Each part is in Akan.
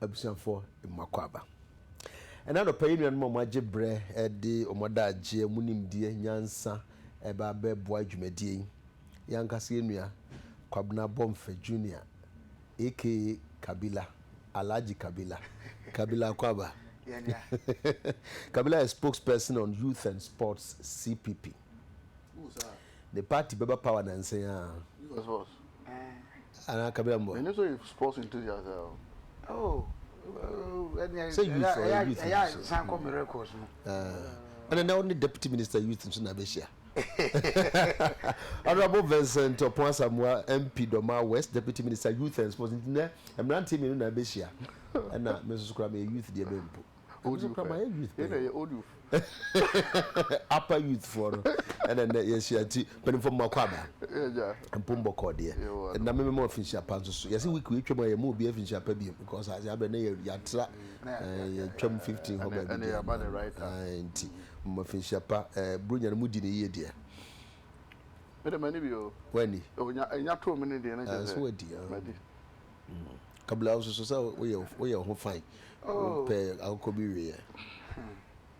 Abusuafoɔ, mo akwaaba. Ɛnnɛ anɔpa yi nuanom a moagye berɛ de wɔn adagyeɛ, mo nimdeɛ, nyansa reba abɛboa dwumadie yi. Yɛn ankasa yɛn nua Kwabena Bomfa Junior aka Kabila, Alhaji Kabila, Kabila Akwaba, Kabila yɛ Spokesperson on Youth and Sports, CPP. ne party bɛba power nansa yi aa. Useless boss. Anaa kabira mboa. M'ani so yɛ sports enthusiast aa o. Oh, ɛnneɛ ɛyɛ Sɛ youth ɔyɛ youth ɛyɛ nso. san kɔ me records mu. Ɛna na wo ne Deputy Minister Youth nso na abɛhyia. Honourable Vincent Opon Asamoah MP Dormaa West Deputy Minister Youth and Sports nti nnɛ mmeranteɛ mmienu na abɛhyia ɛna me nso so koraa meyɛ youth deɛ bɛn mpo. Old youth pɛ. Yɛn na yɛ old youth. Upper youth foɔ no. Ɛna nnɛ yɛhyia nti mpanimfoɔ mma kɔ aba. Mpom bɔkɔɔ deɛ. Ɛna me mema afinhyia pa nso so. Yɛsi week wei twam a yɛma obi afinhyia pa bio because ase abɛ na yɛatra yɛtwam 15 hɔ baabi deɛ. Nti mema afinhyia pa. Buronya no mu di ne yie deɛ. Me de mani bi o. Wani. Enya too me ne deɛ na kyɛ sɛ. Nso wadi. Madi. Kabla wosusu sɛ woyɛ wo ho fine, wopɛ akokɔ bi weeɛ.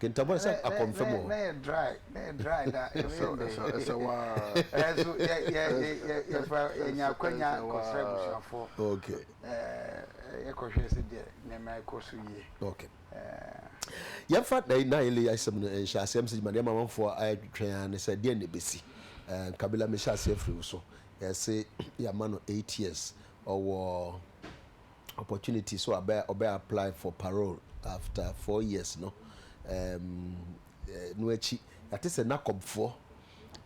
Kentama sɛ akɔmfam wɔ hɔ. Na yɛ dry, na yɛ dry da. Ɛsɛ waa. Ɛso yɛ yɛ yɛ yɛ fa yɛ nya akwanya kɔsra abusuafoɔ. Okay. Ɛɛ yɛ kɔhwɛ sɛ deɛ nneɛma ɛkɔ so yie. Okay. Ɛɛ. Yɛn fa na na yɛ lɛ asɛm no nhyɛ aseɛ msɛ gyima deɛ mamanfoɔ ayɛ twɛn ara ne sɛ deɛ na ebesi. Ɛɛ Kabila mehyɛ aseɛ firi wo so. yɛse yɛama no eight years, ɔwɔ opportunity sɛ ɔbɛ ɔbɛ apply for parole after four years no um, no akyi yɛate sɛ nakɔbfoɔ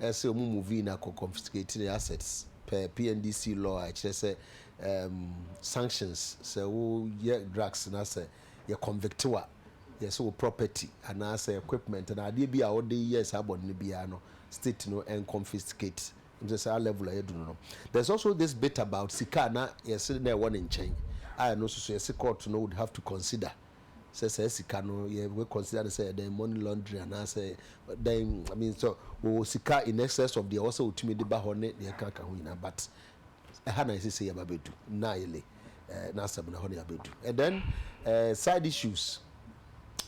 ɛsɛ ɔmu movie no akɔ confiscate ne assets per PNDC law a ɛkyerɛ sɛ um, sanctions sɛ woyɛ drugs na sɛ yɛ convict wa yɛsɛ wo property anaasɛ equipment na adeɛ bi a wode yɛ saa bɔne no biara no state no ɛnconfiscate Ɔnnsɛ saa level a yɛadu no no. There's also this bit about sika a na yɛse na ɛwɔ ne nkyɛn a ɛno nso so yɛse court no would have to consider sɛ saa sika no yɛ we consider no sɛ yɛ dɛn money laundering anaasɛ dɛn I mean sɛ wɔwɔ sika in excess of deɛ ɛwɔ sɛ wɔtumi de ba hɔ ne deɛ ɛka ka ho nyinaa but ɛha na yɛsese yɛba bɛdu nnaayele eh, n'asɛm no hɔ na yɛabɛdu and then eh, side issues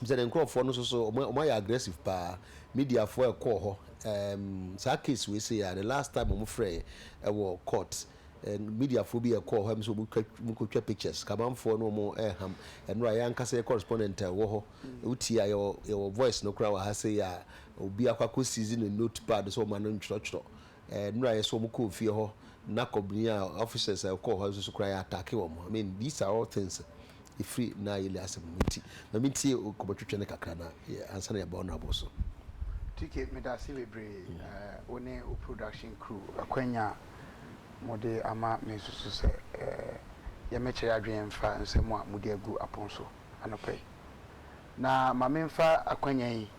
Bisa ne nkorɔfoɔ no nso so ɔmo ayɛ aggressive paa media foɔ ɛkɔɔ hɔ ɛɛm saa case wei sei a the last time ɔmo frɛɛ ɛwɔ court media foɔ bi ɛkɔɔ hɔ ɛm sɛ ɔmo twa ɔmo kɔ twa pictures kamanfoɔ no ɔmo ɛɛham ɛnora yɛn ankasa yɛ correspondent a ɛwɔ hɔ wo tie a yɛwɔ yɛwɔ voice no koraa wɔ ha sei a obi akɔ akɔ seize ne notepad sɛ ɔma no ntwerɛtwerɛ Eh nura yɛ so wɔn kɔɔ fie hɔ na kɔbini a officers a ɔkɔɔ hɔ nso koraa yɛ atake wɔn I mean these are all things efiri na yɛli asɛm mu nti ma mi ntie kɔmɔtwitwi no kakra na yɛ ansa na yɛ ba honourable so. TK medase bebree eh wo ne wo production crew akwanya a mo de ama me nsusu sɛ eh yɛ mɛkyɛre adwene mfa nsɛm a mo de agu apon so anɔpa yi Na ma memfa akwanya yi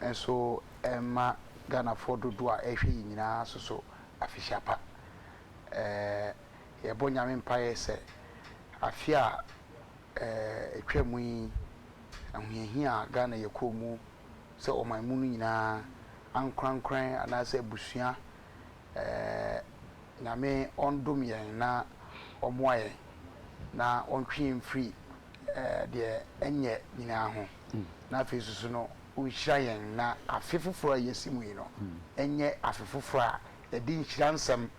nso mma Ghanafoɔ dodoɔ a ɛrehwɛ yɛn nyinaa soso afehyia pa. Yɛbɔ Nyame mpaeɛ sɛ afe a ɛtwa mu yi ahohiahia a Ghana yɛkɔɔ mu sɛ ɔman mu no nyinaa ankorankran anaasɛ abusua Nyame ɔndom yɛn na ɔmoa yɛn na ɔntwe yɛn mfiri deɛ ɛnyɛ nyinaa ho na afei nso so no ɔnhyira yɛn na afe foforɔ a yɛsi mu yi no ɛnyɛ afe foforɔ a ɛde nhyira nsɛm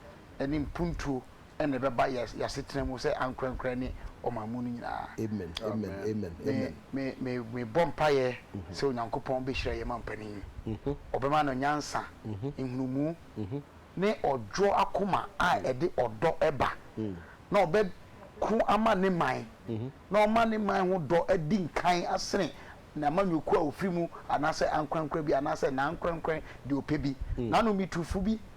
ne mpuntuo na ɛbɛba yɛ yɛ asetena mu sɛ ankorɛnkorɛ ne ɔman mu no nyinaa. Amen amen amen Me amen. me me mebɔ mpaeɛ sɛ Onyankopɔn bɛhyira yɛn mampanin yi. Ɔbɛma no nyansa, nhunumu, ne ɔdwoɔ akoma a ɛde ɔdɔ ba, na ɔbɛko ama ne man, na ɔma ne man ho dɔ adi nkan asene n'amanyɔkuo a ɔfiri mu, anaasɛ ankorɛnkorɛ bi, anaasɛ n'ankorɛnkorɛ deɛ ɔpɛ bi, n'anometufoɔ bi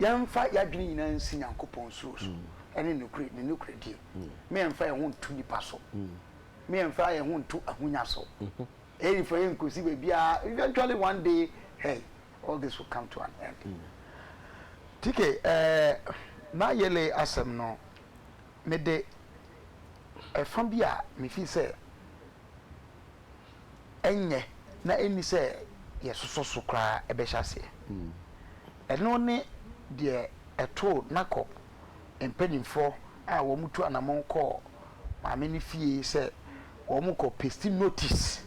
yɛmfa yɛn adwene nyinaa nsi Nyankopɔn suro so ne nokorɛ, ne nokorɛdie, ma yɛmfa yɛn ho nto nnipa so, ma yɛmfa yɛn ho nto ahonya so. Ɛyɛ nifa yɛn nkosi baabiara. Eventually one day, hey, all this will come to an end. Tike, ɛɛ, na yɛle asɛm no, mede ɛfa bi a mefi sɛ. ɛnyɛ na ɛnni sɛ yɛsosɔ so koraa ɛbɛhyɛ aseɛ. Ɛno ne deɛ ɛtoo Nakop mpaninfoɔ a wɔtu anamɔn kɔɔ maame no fie sɛ wɔrekɔ pesti notisi.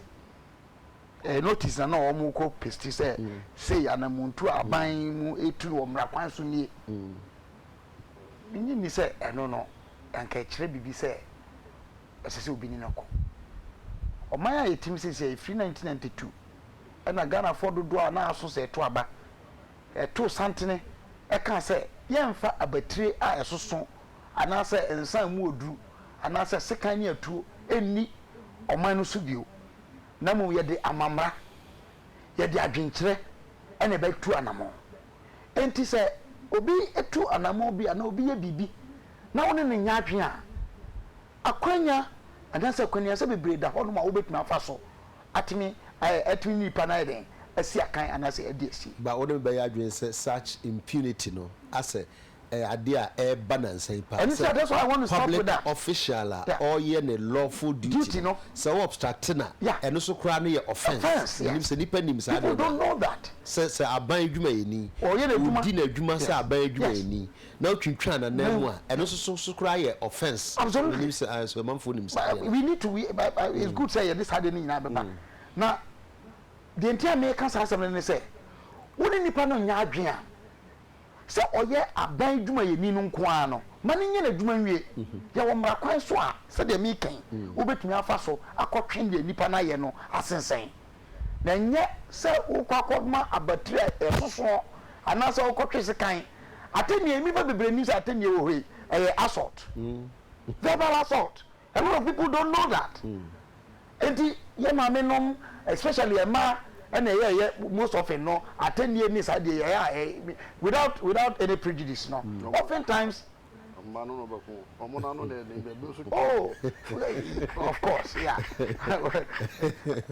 Ɛyɛ notisi na na wɔrekɔ pesti sɛ sei anamontuo a aban mu ɛretu no wɔ mmara kwan so nie. Mennye nni sɛ ɛno no anka ɛkyerɛ biribi sɛ ɛsɛ sɛ obi ne no kɔ. Ɔman a yɛtem seesei, ɛfiri nineteen ninety two na Ghanafoɔ dodoɔ a na aso sɛ ɛto aba, too santene kaa sɛ yɛmfa abatire a ɛsoso anaasɛ nsa a emu wɔ duru anaasɛ sekan ne atuo nni ɔman no so bio, na mmom yɛde amammara, yɛde adwenkyerɛ na ɛbɛtu anamɔn. Enti sɛ obi tu anammɔn bi anaa obi yɛ biribi na wo ne no nyɛ adwene a, akwannya anaasɛ akwannuasa bebree da hɔnom a wobɛtumi afa so atumi ayɛ atumi ne nipa no ayɛ dɛn, asi akan anaasɛ adi asi. But wo ne me bɛyɛ adwene sɛ such impunity no asɛ ɛyɛ adeɛ a ɛreba nansa yi paa sɛ public official a ɔreyɛ ne lawful duty no, sɛ wo obstruct no a, ɛno nso koraa no yɛ offence. Menim sɛ nnipa nnim saa adeɛ no a. Sɛ, sɛ aban adwumayɛni, ɔredi n'adwuma sɛ aban adwumayɛni na wotwintwan n'ananmu a, ɛno nso so, so koraa yɛ offence. Menim sɛ, aye, so amanfoɔ nim saa adeɛ no a? Na deɛ nti a mereka saa asɛm no ne sɛ, wo ne nnipa no nyɛ adwene a, Sɛ ɔyɛ aban dwumayɛni no nko ara no, ma no nyɛ n'adwuma nwie. Yɛ wɔ mmara kwan so a, sɛdeɛ mereka yi, wobɛtumi afa so akɔtwe deɛ nnipa no ayɛ no asensɛn, na ɛnyɛ sɛ worekɔ akɔma abatiri a ɛsoso anaasɛ worekɔtwe sekan. Atɛnnie, nnipa bebree nnim sɛ atɛnnie wɔ hɔ yi, ɛyɛ assault, verbal assault, A lot of people don't know that enti yɛ maame nom especially ɛmaa ɛna ɛyɛ ɛyɛ most often no atɛnnie ne saa deɛ yɛ a without without any prejudice no mm. often times. mma no no bɛko ɔmo na ano na ɛne bɛbi nso. oh of course yeah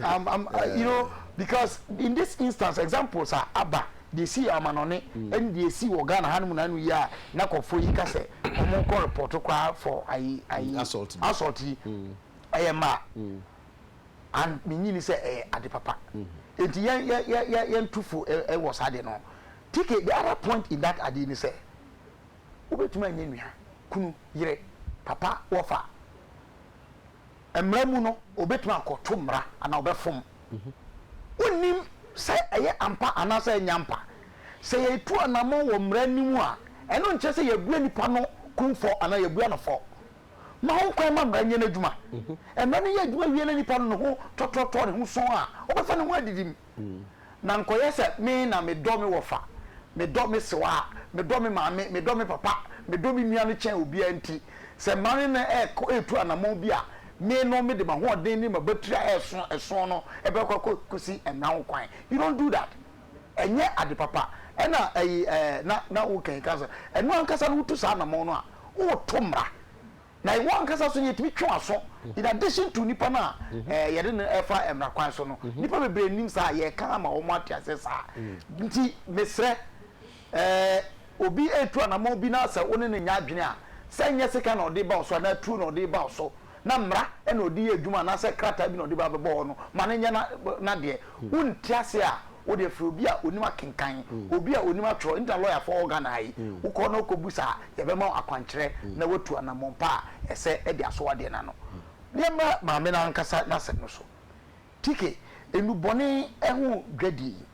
um, um, uh, you know because in this instance examples are aba. Deɛ ɛsii yɛ amanɔne ɛne deɛ ɛsii wɔ Ghana ha nom nano yi a na kɔfoɔ yi ka sɛ wɔn nkɔ report koraa for ayi ayi assault yi ɛyɛ mmaa and me nyi ni sɛ ɛyɛ ade papa enti yɛn yɛ yɛ yɛ yɛn tufo ɛwɔ saa deɛ no TK the other point in that adeɛ ni sɛ wobɛtumi anyɛ nua kunu yere papa wɔfa. Mmara mu no, obetumi akɔto mmara anaa ɔbɛfom. Wonnim sɛ ɛyɛ ampa anaasɛ ɛnyɛ ampa. Sɛ yɛretu anammɔn wɔ mmara no mu a, ɛno nkyerɛ sɛ yɛabua nipa no kumfɔ anaa yɛabua no fɔ. Ma ho kwan ma mmara nyɛ n'adwuma. Mmara no yɛ adwuma wie na nipa no ne ho tɔtrɔtɔɔ ne ho sɔɔ a, ɔbɛfa ne ho adidi mu. Na nka ɔyɛ sɛ me na medɔ me wɔfa, medɔ me sewaa, medɔ me maame, medɔ me papa, medɔ me nua no kyɛn obiara nti, sɛ mma me ne no rekɔ retu anammɔn bi a, me no mede m'ahoɔden ne m'abatiri a ɛso ɛso no bɛkɔ akɔsi ɛnna ho kwan. You don't do that. Ɛnyɛ ade papa. Ɛnna ayi ɛɛ na na wokankan sɛ ɛno ankasa no wotu saa anammɔn no a, woreto mmara. Na iwɔ ankasa nso no yɛtumi twe w'aso in addition to nipa no a eh, yɛde no ɛfa mmara kwan so no. Nipa bebree nim saa, yɛka ama wɔn ate aseɛ saa. Nti mesrɛ eh, obi ɛretu anamɔn bi na sɛ wo ne no nyɛ adwene a, sɛ ɛnyɛ sika na ɔde ba wo so anaa tuo na ɔde ba wo so na mmara na ɔde yɛ adwuma anaasɛ krataa bi na ɔde ba bɛbɔ hɔ no, ma no nyɛ n'adeɛ. Wonte aseɛ a, wo deɛ frɛ obi a onim akenkan, obi a onim atwerɛ, ɛno ntina lɔyafoɔ wɔ Ghana ha yi, wo kɔ na wo kɔ busa a, yɛbɛma wo akwankyerɛ na watu anamɔn pa a ɛsɛ ɛde asɔ adeɛ no ano. Yɛmma maame no ankasa n'asɛm no so. TK, Nnubɔne ho dwadie yi,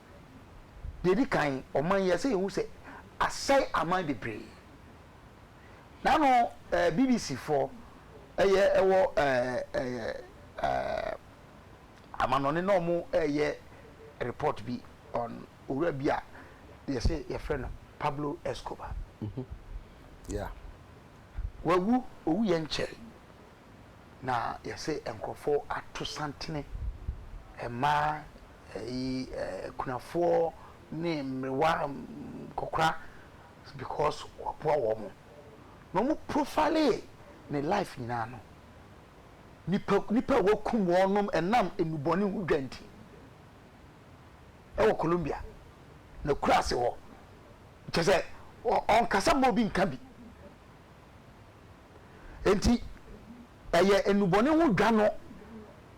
deɛ ɛdi kan, ɔman yi, ɛsɛ yɛhu sɛ asɛe aman bebree. N'ano ɛɛ BBC foɔ ɛyɛ ɛwɔ ɛɛ ɛɛ ɛɛ. Amanɔne na ɔmo ɛɛyɛ report bi on owura bi a yɛse yɛfrɛ no Pablo Escobar. Yeah. Wawu, owuiɛ nkyɛe na yɛse nkorɔfoɔ ato santene, mmaa, ɛyi akunafoɔ ne mmerewa, nkɔkora because waboa wɔn. Na ɔmo profilee ne life nyinaa no, Nnipa, nnipa a wɔakum wɔnom ɛnam nnubɔne ho dwa nti ɛwɔ Colombia, n'akuraase hɔ. Kyɛ sɛ ɔnkasa mma obi nka bi. Enti ɛyɛ nnubɔne ho dwa no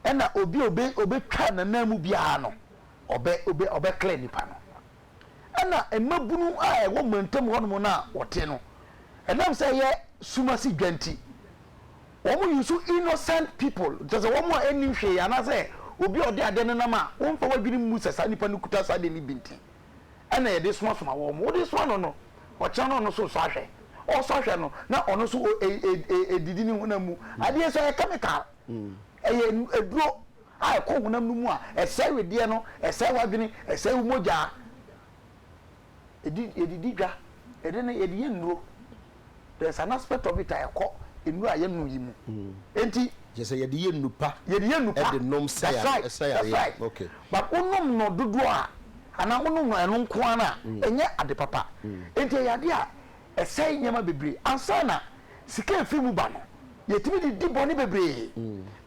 ɛna obi a ɔbɛtwa n'ananmu biara no ɔbɛ ɔbɛ ɔbɛklɛ nipa no. Ɛna mmabunu a ɛwɔ mantam hɔnom no a wɔte no, ɛnam sɛ ɛyɛ sum ase dwa nti, wɔn yusu innocent people, kyerɛ sɛ wɔn a ɛnnim hwee anaasɛ obi a ɔde adeɛ no nam a wɔmfa wɔn adwene mmu sɛ saa nipa no kuta saa adeɛ no bi nti, ɛna yɛde somasoma wɔn. Wode soma no no, ɔkyena no ɔno nso resɔ ahwɛ. Ɔresɔ ahwɛ no, na ɔno nso ɔredidi ne honam mu. Adeɛ nso ɛyɛ chemical. Ɛyɛ aduro a ɛkɔ honam no mu a ɛsɛe wedeɛ no, ɛsɛe w'adwene, ɛsɛe wo mogya. Ɛdi, yɛde di dwa, yɛde no, yɛde yɛ nnuro. There is an aspect of it a ɛkɔ nnuro a yɛnom yi mu. Enti. Kyerɛ sɛ yɛde yɛ nnupa. Yɛde yɛ nnupa. Ɛde nom sɛ yareɛ. That's right, that's right. Okay. But wonom no dodoɔ a, anaa wonom no ɛno nko ara no a, ɛnyɛ ade papa. Enti ɛyɛ adeɛ a. Ɛsɛe nneɛma bebree. Ansa na sika a efi mu ba no, yetumi de di bɔne bebree.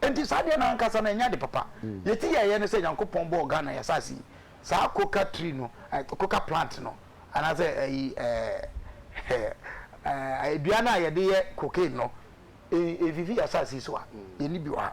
Enti saa adeɛ no ankasa no, ɛnyɛ ade papa. Nea enti yɛyɛ ne sɛ Nyankopɔn bɔɔ Ghana, yɛn asase yi, saa coca tree no, ɛɛ, coca plant no, anaasɛ ayi, ɛɛ, ɛɛ, dua no a yɛde yɛ cocaine no, ɛmfifi yɛn asase yi so a. Yɛnni bi wɔ ha.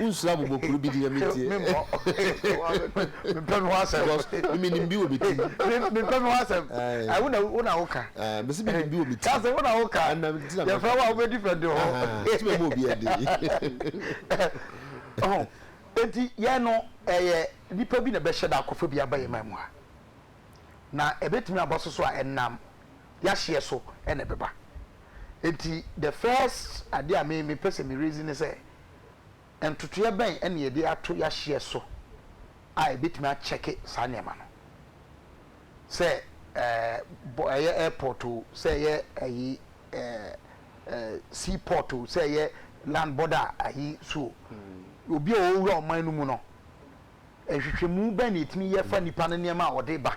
Wonsuro abobɔkuru bi deɛ me deɛ. Because me me nim bi wɔ me ti. Me pɛ me ho asɛm. Ayi wo na wo na wo ka. Me si me nim bi wɔ me ti. Kasi wo na wo ka. Yɛ fɛ wo a wo bɛ defend wo ho. Ti bɛ mo obi ɛdi. Ɔhɔn eti yɛn no ɛyɛ nipa bi na ɛbɛ hyɛ da akɔfɔ bi aba yɛn man mu ha na ɛbɛ tumi aba soso a ɛnam yahyeɛ so ɛna ɛbɛ ba eti the first adeɛ a me me pɛ sɛ me raise ne sɛ Ntotoeɛ bɛn na yɛde ato yɛahyeɛ so a ɛbɛtumi akyɛke saa nneɛma no? Sɛ ɛɛ ɛyɛ airport o, sɛ ɛyɛ ayi ɛɛ sea port o, sɛ ɛyɛ land border ayi so o, obi a ɔwura ɔman no mu no, nhwehwɛmu bɛn na yɛtumi yɛ fa nipa no nneɛma a ɔde ba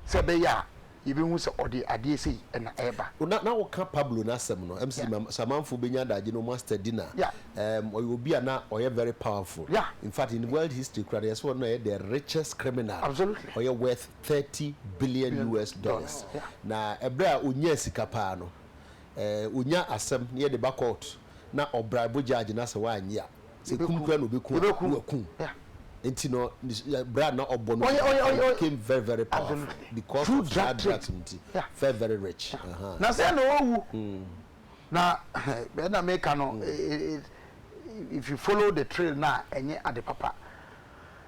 sɛ ɛbɛyɛ a yɛbɛhu sɛ ɔde adeɛ sei na ɛreba? O na na wo ka Pablo no asɛm no ɛm sɛ ma samanfoɔ bɛnya adagye no master di na ɛɛm ɔyɛ obi a na ɔyɛ very powerful in fact in world history koraa no yɛ sɛ ɔno na ɛyɛ the richest criminal ɔyɛ worth thirty billion US dollars na ɛbrɛ a ɔnyaa sika paa no ɛɛ ɔnya asɛm na yɛde ba kɔɔto na ɔbraibo gyaagy no asɛ w'annye a sɛ kum koraa na ɔbɛku a na wakum nti no bra na ɔbɔ no became very very powerful because of saa drugs no nti very very rich na sɛ na ɔwu na bɛɛ na meka no if you follow the trail na ɛnyɛ ade papa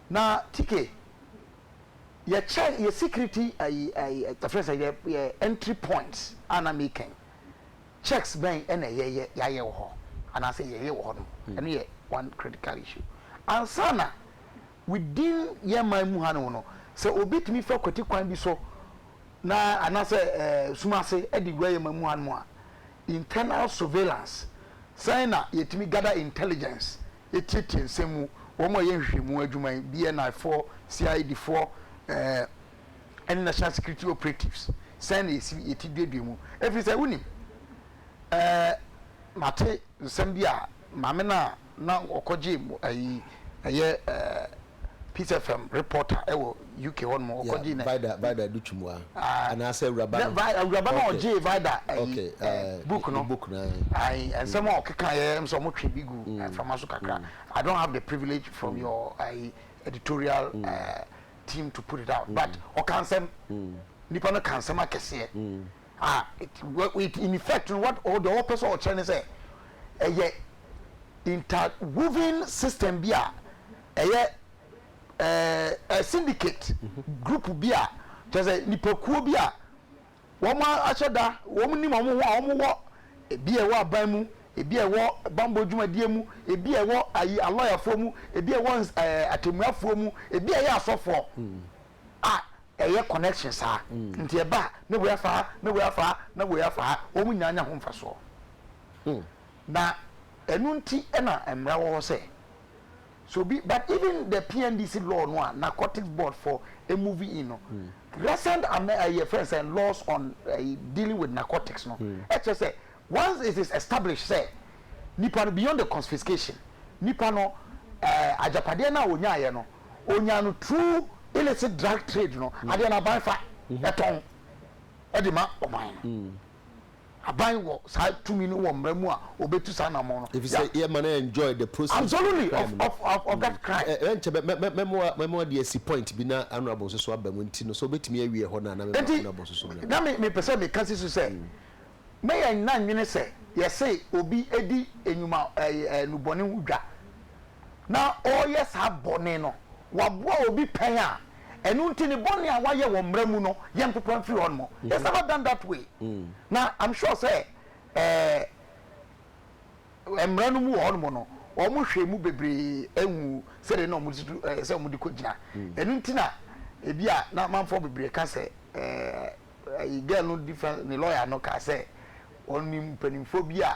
na tike yɛ kyɛ yɛ security ayi ayi ɛfrɛ sɛ yɛ yɛ entry points a na mekɛn Checks bɛn na ɛyɛ yɛ yɛayɛ wɔ hɔ anaasɛ yɛyɛ wɔ hɔnom? Ɛno yɛ one critical issue. Ansa na within yɛn man mu hanom no, sɛ obi tumi fa kwati kwan bi so na anaasɛ sum ase de wura yɛn man mu hanom a, internal surveillance, sɛn na yɛtumi gather intelligence tietie nsɛm mu, wɔn a wɔyɛ nhwehwɛmu adwuma yi, BNI foɔ, CID foɔ, ɛne national security operatives sɛn na yɛsi yɛ ti duadua mu ɛfiri sɛ wonim ɛɛ mate nsɛm bi a maame no a na ɔkɔgye ɛyi ɛyɛ ɛɛ peace fm reporter ɛwɔ uk hɔ nom ɔkɔgye na vida vida do twumua anaasɛ awuraba no awuraba no ɔgye vida ɛyi book no book no ayi nsɛm a ɔkeka yɛ ɛm sɛ ɔmo twe bi gu ɛfama so kakra i don't have the privilege from your ɛyi editorial ɛɛ. team to put it out but ɔka nsɛm nipa no ka nsɛm akɛseɛ a it in effect no what ɔde ɔpɛ sɛ ɔkyerɛ ne sɛ ɛyɛ interwoven system bi a ɛyɛ ɛɛ syndicate group bi a kyerɛ sɛ nipakuo bi a. Wɔahyɛ da, wɔnim wɔn ho a wɔwɔ, ebi a ɛwɔ aban mu, ebi a ɛwɔ bammɔ dwumadie mu, ebi a ɛwɔ ayi alɔyafoɔ mu, ebi a ɛwɔ ɛɛ atemmuafoɔ mu, ebi a ɛyɛ asɔfoɔ a ɛyɛ connection saa. Nti ɛba a, ne wei afa ha, ne wei afa ha, ne wei afa ha, wɔn nyinaa nya ho mfasoɔ. Na ɛno nti na mmara wɔ hɔ sɛ So obi but even the PNDC law no a narcotics board for movie in no recent amɛ ɛyɛ eh, friends and laws on uh, dealing with narcotics no ɛkyɛ sɛ once it is established sɛ nipa no beyond the confiscation nipa no ɛɛ eh, agyapadeɛ no a onyaayɛ no onyaa no through illicit drug trade no adeɛ no aban fa ɛtɔn ɛde ma ɔman no. Aban wɔ saa tumi no wɔ mmara mu a obetu saa anammɔn no. Efisɛ Yeah. yɛma no enjoy the proceeds of the Absolutely, crime of, no. of, of, of that crime. Ɛ- Ɛnkyɛ mɛ- mɛ- mɛ- mɛmoa mɛmoa de asi point bi na honourable nso so aba mu nti no sɛ obetumi awie ɛhɔ no a na mɛma Enti, honourable nso so bra. na me mepɛ sɛ meka si so sɛ, na yɛn nna nwene sɛ yɛse obi di nnwuma ɛy- ɛɛ, nnubɔne ho dwa, na ɔreyɛ saa bɔne no, waboa obi pɛn a, ɛno nti ne bɔne a wayɛ wɔ mmara mu no yɛ mpopa mfiri hɔ nom he has never done that way mm. na i'm sure sɛ eh, mmara no mu wɔ hɔ nom no wɔn hwɛ mu bebree ehu sɛdeɛ na wɔn de tutu ɛɛ sɛ wɔn de kɔ gyina mm. ɛnu nti na ebi a na amanfoɔ bebree ka sɛ ɛɛ ɛyi girl no defence ne lawyer no ka sɛ wɔn ni mpanimfoɔ bi a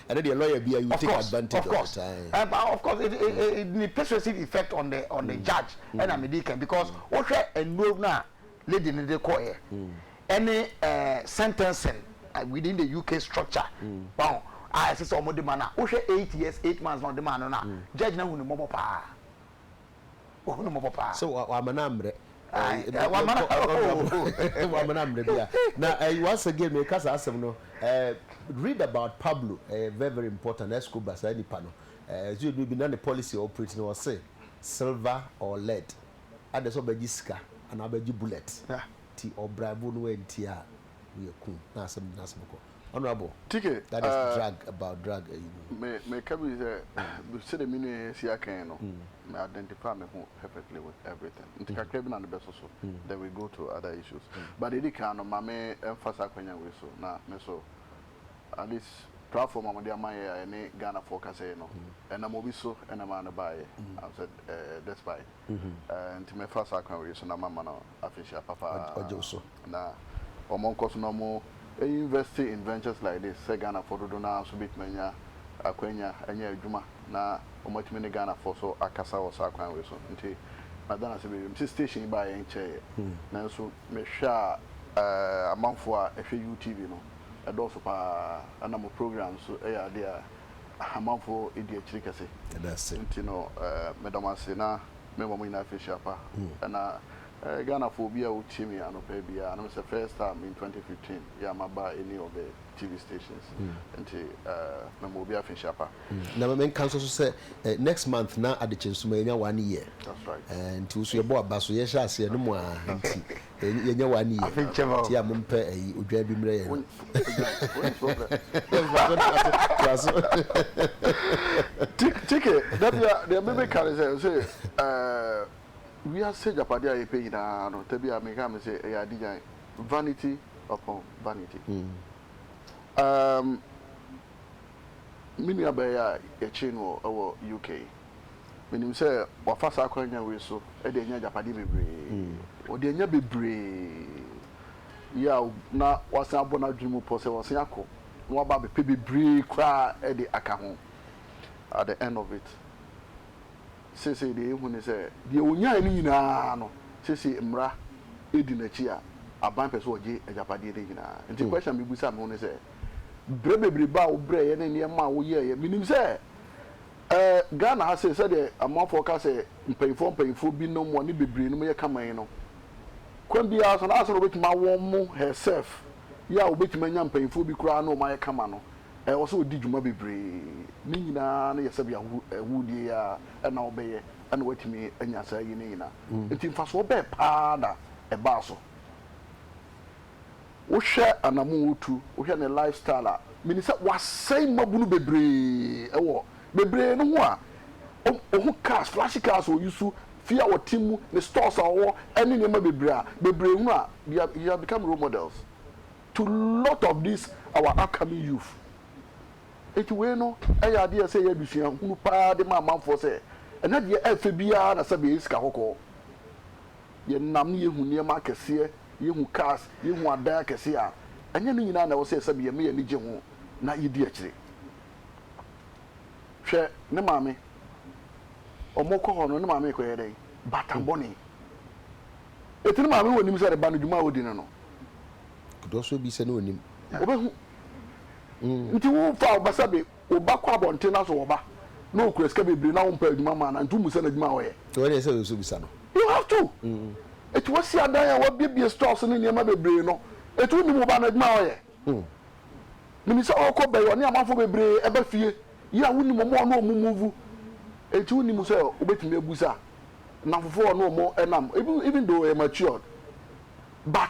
Ɛno deɛ lawyer biara you take advantage of the time. Of course, of course, it, it, it, it need persuasive effect on the on the judge. Ɛna mi di kan because wohwɛ nnuro no a lady no de kɔɛ ɛne sentencing within the UK structure. Wɔn a ɛsɛ sɛ wɔn de ma no a wohwɛ eight years eight months na ɔde ma no no a judge no ahu ne mmɔbɔ paa. Ohunu mmɔbɔ paa. Sɛ wama no ammerɛ. Ae wama no oh. Wama no ammerɛ bia. Na once again meka saa asɛm no read about Pablo ɛyɛ very very important Escobar saa nipa no ɛsɛ ɔduru bi na ne policy operate no ɔse silver or lead adɛ sɛ ɔbɛgye sika anaa ɔbɛgye bullet ti ɔbraibo no anti a woyɛ kum na asɛm gyina asɛm kɔ. Honourable Tike, that is eh, drug about drug ayi no. me, meka bi sɛ, bi- sɛdeɛ me nua yi asi aka yi no, me identify me ho perfectly with everything. Nti kakra bi na ne bɛsoso, then we go to other issues. But deɛ ɛdi kan no, ma me ɛmfa saa akwanya wei so, na me nso, at least platform a mode ama yɛ a ɛne Ghanafoɔ kasa yi no, ɛnam obi so na ɛmaa no baeɛ. Am sɛ, eh, despite. Eh, nti mɛfa saa kwan wei so na mama no afehyia papa ɔgye wo so. Na ɔmɔ nkɔ so na ɔmɔ invɛste in vɛnkyɛs laik dis sɛ Ghanafoɔ dodo no ara nso bɛtumi anya akwanya anya adwuma na ɔmɔ atumi ne Ghanafoɔ so akasa wɔ saa kwan wei so. Nti mada no ase bebree. Mese station yi baeɛ nkyɛeɛ nanso me hwɛ a amanfoɔ a ɛhwɛ UTV no ɛdɔɔso paa ɛna mo programme nso ɛyɛ adeɛ a amanfoɔ ɛdi akyiri kɛse. Yɛda ase. Nti no meda mo ase na. me ma ɔmo nyinaa firi hyia pa ɛna ɛɛ Ghana foɔ obi a ɔtie me anɔpa biaa na mesɛ first time in 2015 yɛ a maba any of the TV stations nti ɛɛ me ma obi a firi hyia pa. Na me nka nso so sɛ ɛɛ next month na adekye nso ma yɛ nya one year that's right ɛɛ nti wo so yɛ bɔ aba so yɛ hyɛ aseɛ no mo aa nti Yɛ yɛnyɛ wa ne yie nti a mompɛ ayi odwan bi mmerɛ yɛn. Kike dabia deɛ me meka ne sɛ sɛ ɛɛ wiase japade a yɛpɛ nyinaa no dabi a meka me sɛ ɛyɛ adigyan vanity upon vanity ɛɛm me nua bɛɛya yɛkye no wɔ UK. Menim sɛ wafa saa akwanya wei so de anya agyapadeɛ bebree. Ɔde anya bebree. Yaw na wasan abɔ n'adwene mu pɔ sɛ wasan akɔ na waba abɛpɛ bebree koraa de aka ho at the end of it. Seesei deɛ yɛhu ne sɛ deɛ ɔnyaeɛ no nyinaa no, seesei mmara di n'akyi a aban pɛ sɛ wɔgye agyapadeɛ no nyinaa. Nti question a mebisa me ho ne sɛ, berɛ bebrebe a wobrɛeɛ ne nneɛma a woyɛeɛ, menim sɛ Ɛɛ Ghana ha sei sɛdeɛ amanfoɔ ka sɛ mpaninfoɔ mpaninfoɔ bi nom wɔne bebree nom yɛ kama yi no, kwan biara so no ansa na wɔbɛtumi awo wɔn mo, her self, yɛ a wɔbɛtumi anya mpaninfoɔ bi koraa ne wɔn ayɛ kama no, ɛwɔ sɛ wɔdi dwuma bebree. Ne nyinaa no yɛ sɛdeɛ ahu ahuudie yi ara na wɔbɛyɛ na wɔatumi anya saa ayi no nyinaa. Nti mfasoɔ bɛɛ paa na ɛbaa so? wohwɛ anamon otu, wohwɛ ne life style a, menim sɛ wasɛe mmabunu bebree wɔ bebree no ho a ohu cars, flashy cars a ɔusu, fie a ɔte mu, ne stores a ɔwɔ ne nneɛma bebree a bebree hunu a they are, he has become role models to lot of these our upcoming youth. Enti wei no yɛ adeɛ a ɛsɛ yɛyɛ adesua hunu paa de ma amanfoɔ sɛ ɛnɛ deɛ ɛfɛ biara na sɛbe ɛyɛ sika kɔkɔɔ. Yɛnam ne yɛhu nneɛma akɛseɛ, yɛhu cars, yɛhu adan akɛseɛ a, ɛnyɛ ne nyinaa na ɛwɔ sɛ yɛsɛbi yɛn ma yɛn ani gye ho na yɛdi akyire. Hwɛ ne maame, wɔkɔ hɔ no, ne maame rekɔyɛ dɛn? Baatan bɔne. Enti ne maame wɔ nim sɛ ne ba no dwuma a ɔdi no no. Kodoɔ so bi sɛ ne ɔnim. Ɔbɛhu. Nti wo fa wo ba sɛbe Wo ba kɔ abɔnten na sɛ wɔ ba na ɔkura sika bebree na wompɛ adwuma mmaa no a, nti wommisa no adwuma a ɔyɛ? Nti w'ɛdeɛ ɛsɛ sɛ wobisa no? You have to! Ɛti w'asi adan a w'abiebie stores ne nneɛma bebree no, ɛti wonnim wo ba no adwuma a ɔyɛ? Menim sɛ ɔɔkɔ bɛyɛ ɔne amanfoɔ bebree ɛba fie yi a wonnim ɔmo a ɔne ɔmo move, ɛti wonnim sɛ wobɛtumi abusa nnamfofoɔ a ɔne ɔmo ɛnam, even though ɔyɛ matured but.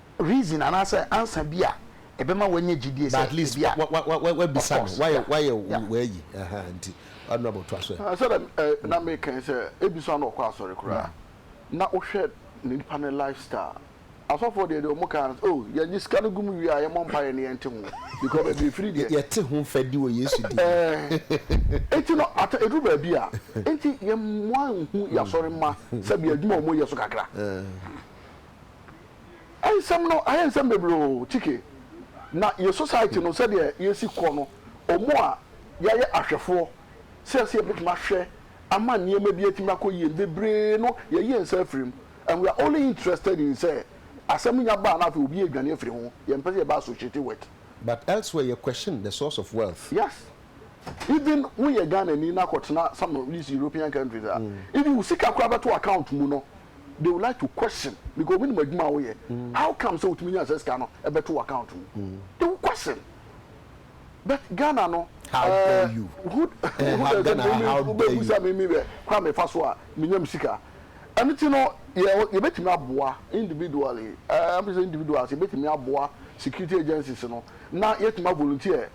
reason anaasɛ answer bi a ɛbɛma wanya gyidie sɛ ebia of course yeah. Sɛdeɛ na meka yi sɛ ebi so a na ɔkɔ asɔre koraa na wohwɛ nipa no life style asɔfoɔ deɛ deɛ wɔn ka ara ne sɛ oh yɛgye sika no gu mu wie a yɛmmɔ mpaeɛ na yɛnte ho because baabi efiri deɛ yɛte ho fɛ di wɔ Yesu din mu ɛɛ enti no ata eduru baabi a enti yɛn mmoa nhu yɛn asɔre mma sɛbi adwuma a wɔyɛ so kakra. Nsɛm no ayɛ nsɛm bebree oo Chike, na yɛ society no sɛdeɛ yɛsi kɔ no, wɔn a yɛayɛ ahwɛfoɔ sɛ sɛ yɛbɛtumi ahwɛ ama nneɛma bi atumi akɔ yie no bebree no yɛayi yɛn nsa afiri mu and we are only interested in sɛ asɛm nya ba a na afei obi adwane afiri ho, yɛmpɛ sɛ yɛba associate with. But elsewhere yɛ question the source of wealth. Yes, even woyɛ Ghanani na kɔtena some of these European countries a, even wo sika koraa bɛto account mu no they will like to question because obi nim adwuma a woyɛ mm. how come sɛ wotumi nya sɛ sika no ɛbɛto wo account mu mm. they will question but ghana no how uh, dare you who eh, who dare ghana how dare you sɛ mimi bɛ kora mefa so a menyam sika ɛno ti no yɛbɛtumi aboa individually ɛm eh, sɛ individuals yɛbɛtumi aboa security agencies no na yɛtumi volunteer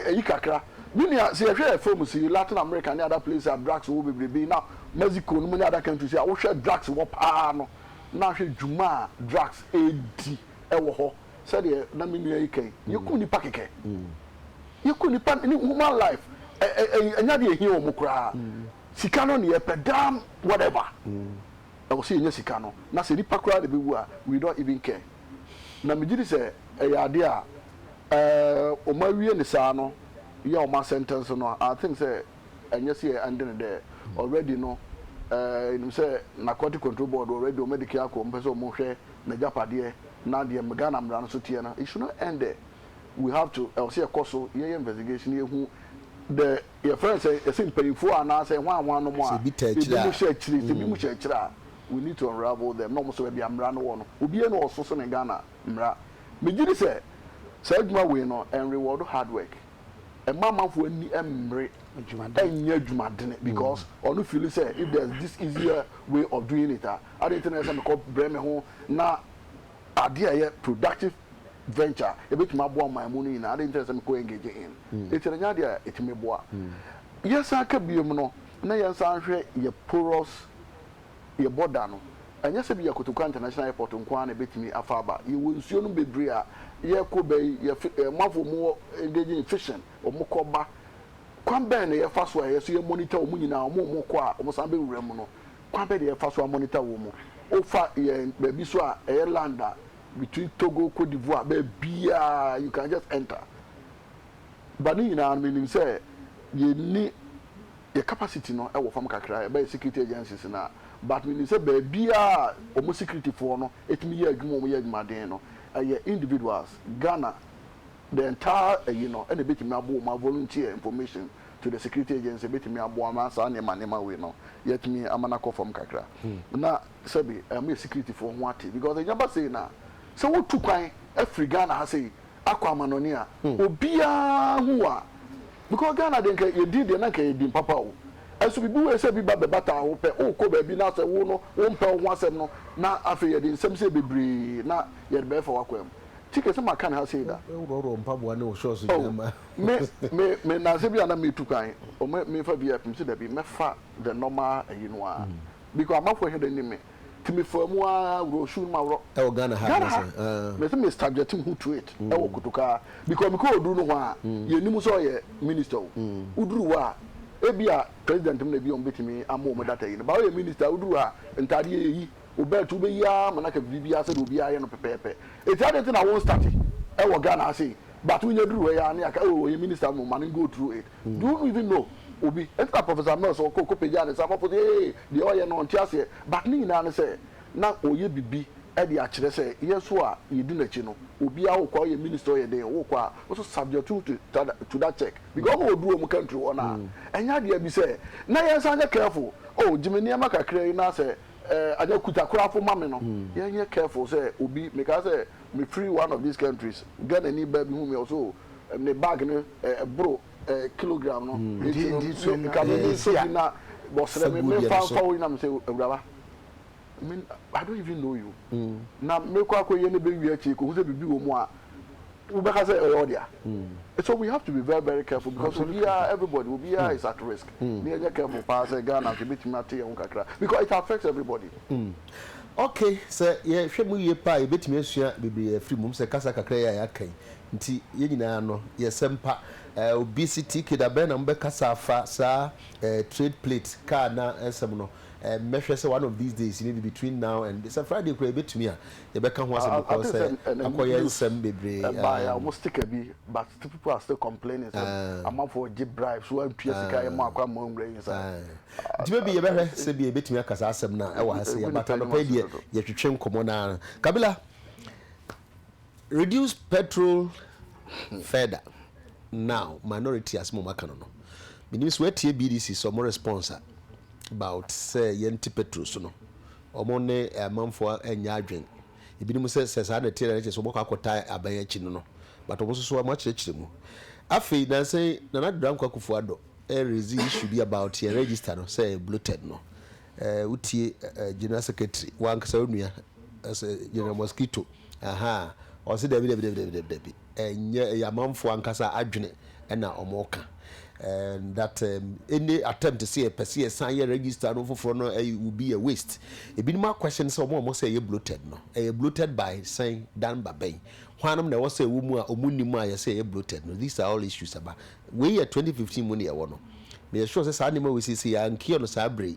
Eyi kakra. Me nua, sɛ yɛhwɛ yɛn fam si, Latin America ne other places a drugs wɔ bebrebe na Mexico nom ne other countries a, wohwɛ drugs wɔ paa no, na hwɛ dwuma a drugs redi wɔ hɔ. Sɛdeɛ na me nua yi ka yi, yɛku nnipa kɛkɛ. Yɛku nnipa ne human life. Ɛ, ɛ, ɛnyɛ adeɛ a ɛhia wɔn koraa. Sika no ne yɛpɛ, damn whatever. Ɛwɔ sɛ yɛnya sika no, na sɛ nipa koraa na ɛbɛwu a, we don't even care. Na megye di sɛ ɛyɛ adeɛ a ɛɛ wɔn awie no saa no, yɛ a wɔn asɛntɛnse no, I think sɛ ɛnyɛ sɛ yɛ ɛnde no dɛ. Already no, ɛɛ yɛnim sɛ Narcotic Control Board already wɔn adike akɔ, wɔn pɛ sɛ wɔn hwɛ n'agyapadeɛ, na deɛ Ghana mmara no so teɛ no, it should not end there. We have to, ɛwɔ sɛ yɛkɔ so, yɛyɛ investigation, yɛhu the. Yɛfrɛ no sɛ, yɛse mpanyimfoɔ anaa sɛ hwan hwan nom a, ebinom hyɛ akyire, sɛ ebinom hyɛ akyire a, we need to unravel them na wɔn nso baabi a mmara no wɔ no, obiara nni hɔ a ɔso sene Ghana mmara. Megye di sɛ saa adwuma wei no, ɛnrewɔɔdo hard work, ɛmma amanfoɔ ani mmere nnyɛ adwumadene because ɔno fiili sɛ if there's this easier way of doing it a, adɛn nti na ɛsɛ sɛ mekɔbrɛ me ho na adeɛ a ɛyɛ productive venture a ɛbɛtumi aboa ɔman mu no nyinaa adɛn nti na ɛsɛ sɛ mekɔ engage in? Ɛti no ɛnyɛ adeɛ a ɛtumi boa. Yɛsan ka biom no na yɛnsan nhwɛ yɛ porous, yɛ border no. Ɛnyɛ sɛ ebia Kotoka International Airport nko ara na ɛbɛtumi afa aba. Yɛwɔ nsuo nom bebree a yɛkɔ ba yi, yɛ fi, eh, amanfoɔ wɔn wɔ engage in fishing, wɔn kɔ ba. Kwan bɛn na yɛfa so a yɛso yɛ monitor wɔn nyinaa, wɔn a wɔkɔ a wɔsan bɛwura mu no, kwan bɛ deɛ yɛfa so a monitor wɔ mu wofa yɛn baabi so a ɛyɛ land a between Togo Cote d'Ivoire baabiaa you can just enter but ne nyinaa no menim sɛ yɛnni yɛ capacity no ɛwɔ fam kakra ɛbɛ yɛ security agencies no a but menim sɛ baabiaa wɔn security foɔ no ɛtumi yɛ adwuma wɔn yɛ adwumaden no ɛyɛ individuals Ghana The entire ɛyi no ɛna ɛbɛtumi aboɔ mu a volunteer information to the security agency ɛbɛtumi aboa ma saa nneɛma nneɛma wei no yɛatumi ama no akɔ fam kakra na sɛbe ɛma yɛ security foɔ ho ate because ɛnya ba sei no a sɛ wotu kwan firi Ghana ha sei akɔ amanɔne a obiara hu wo a because Ghana deɛ nka yɛ din deɛ na nka ɛyɛ din papa o ɛnso biribi wei sɛ bi ba bɛbataa wo pɛ wokɔ baabi na sɛ wo no wompɛ wo ho asɛm no na afei yɛde nsɛm sei bebree na yɛde bɛɛfa w'akwan mu Ti kɛse ma kan ha sei da. Wo worɔworɔ mpaboa ne wo shorts nyinaa oh, ma. me me me nansa bi a na metu kwan o me me fa VIP msi da bi mɛfa the normal ɛyi no a mm. because amafo hɛ da ni me ti me fa mu a worɔ shoe no ma worɔ ɛwɔ Ghana ha Ghana ha me se me subject me ho to it mm. ɛwɔ kotoka because me kɔ oduru no ho a mm. yɛ nim sɛ ɔyɛ minister o mm. oduru hɔ a ebi a president mu na ebi a wɔn betumi ama wɔn data yi no ba ɔyɛ minister oduru hɔ a ntaade yɛ yi. Wo belt wobɛyi ara ma no aka biribiara sɛdeɛ obiara yɛ no pɛpɛɛpɛ. Ɛti adɛn nti na wo nstate wɔ Ghana ha sei but wonya duru ha yi ara ne aka oh ɔyɛ minister mmom ma no go through it. Do you even know obi? Ɛnti na Professor Mills ɔkɔ kɔ pagyaa ne nsa amafo sɛ hey deɛ ɔyɛ no ɔnte aseɛ but ne nyinaa ne sɛ na ɔyɛ bibi de akyerɛ sɛ yɛn nso a yɛdi n'akyi no obiara wokɔ a woyɛ minister ɔyɛ dɛn o wokɔ a wo nso subject to to that check because ɔma wɔduru wɔn country hɔ no a ɛnyɛ adeɛ bi sɛ na yɛn nsa nyɛ careful oh gye me nneɛma kakra yi na sɛ eh, anyɛ kutakorafo ma me no mm. yɛnyɛ careful sɛ obi meka sɛ me free one of these countries Ghana ni baa bi hu me ɔso eh, ne bag no eh, ɛboro eh, kilogram no mm. nti no nka me ne nso bi na wɔsrɛ me memfa mfa wo nyinam sɛ awuraba I don't even know you mm. na mekɔ akɔyɛ no bɛwie akyi kɔhu sɛ biribi wɔ mu a Wobɛka sɛ ɛyɛ ɔdea. So we have to be very very careful because obiara, everybody, obiara is at risk. Ne yɛnyɛ careful paa sɛ Ghana nso yɛbɛtumi ate yɛn ho kakra because it affects everybody. Ok, sɛ yɛhwɛ mu yie paa a, yɛbɛtumi asua bebree afiri mu. Sɛ kasa kakra yi a yɛaka yi nti, yɛn nyinaa no yɛ sɛmpa. Obesity, ke da bɛn na mobɛkasa afa saa trade plate kaa na nsɛm no? Mɛhwɛ sɛ one of these days, maybe between now and sɛ Friday koraa yɛbɛtumi a, yɛbɛka ho asɛm because sɛ akɔ yɛ nsɛm bebree ɛbaeɛ a wɔn sticker bi but still people are still complaining sɛ amanfoɔ gye bribes wɔantua sika yɛ mɔ akɔ ama wɔn nwura yi nsa nti bɛbi yɛbɛhwɛ sɛ bi yɛbɛtumi aka saa asɛm no ɛwɔ ha sɛ yɛ but anɔpa yi deɛ yɛtwetwe nkɔmmɔ no ara kabila reduce petrol further now minority asɛm wɔn aka no no menim sɛ wɔatie BDC sɛ wɔn response about sɛ yɛnte petrol so no wɔn ne amanfoɔ anyɛ adwen ebinom sɛ sɛ saa na ɛteɛ na ɛkyɛ sɛ wɔbɛkɔ akɔtaa aban akyi no no but wɔn nso so wɔn akyerɛkyerɛ mu afei nansa yi Nana Addo Dankwa Akufo Addo ɛrezi issue bi about yɛn register no sɛ ɛyɛ bloated no ɛɛ wotie ɛɛ general secretary wankasa onua ɛsɛ general mosquito ahaa ɔsi dabi dabi dabi dabi dabi ɛnyɛ ɛyɛ amanfoɔ ankasa adwene na wɔka and that um, any attempt sɛ yɛpɛ sɛ yɛsan yɛ register no foforɔ no ɛyɛ will be a waste ebinom akwɛhyɛn sɛ wɔn a wɔn sɛ ɛyɛ bloated no ɛyɛ bloated by sɛn dan ba bɛn hwannom na ɛwɔ sɛ ɛwɔ mu a wɔn nim a yɛsɛ ɛyɛ bloated no these are all issues aba wei yɛ 2015 mu na ɛwɔ no meyɛ sure sɛ saa nneɛma wei sisi yɛ ankiɛ no saa bere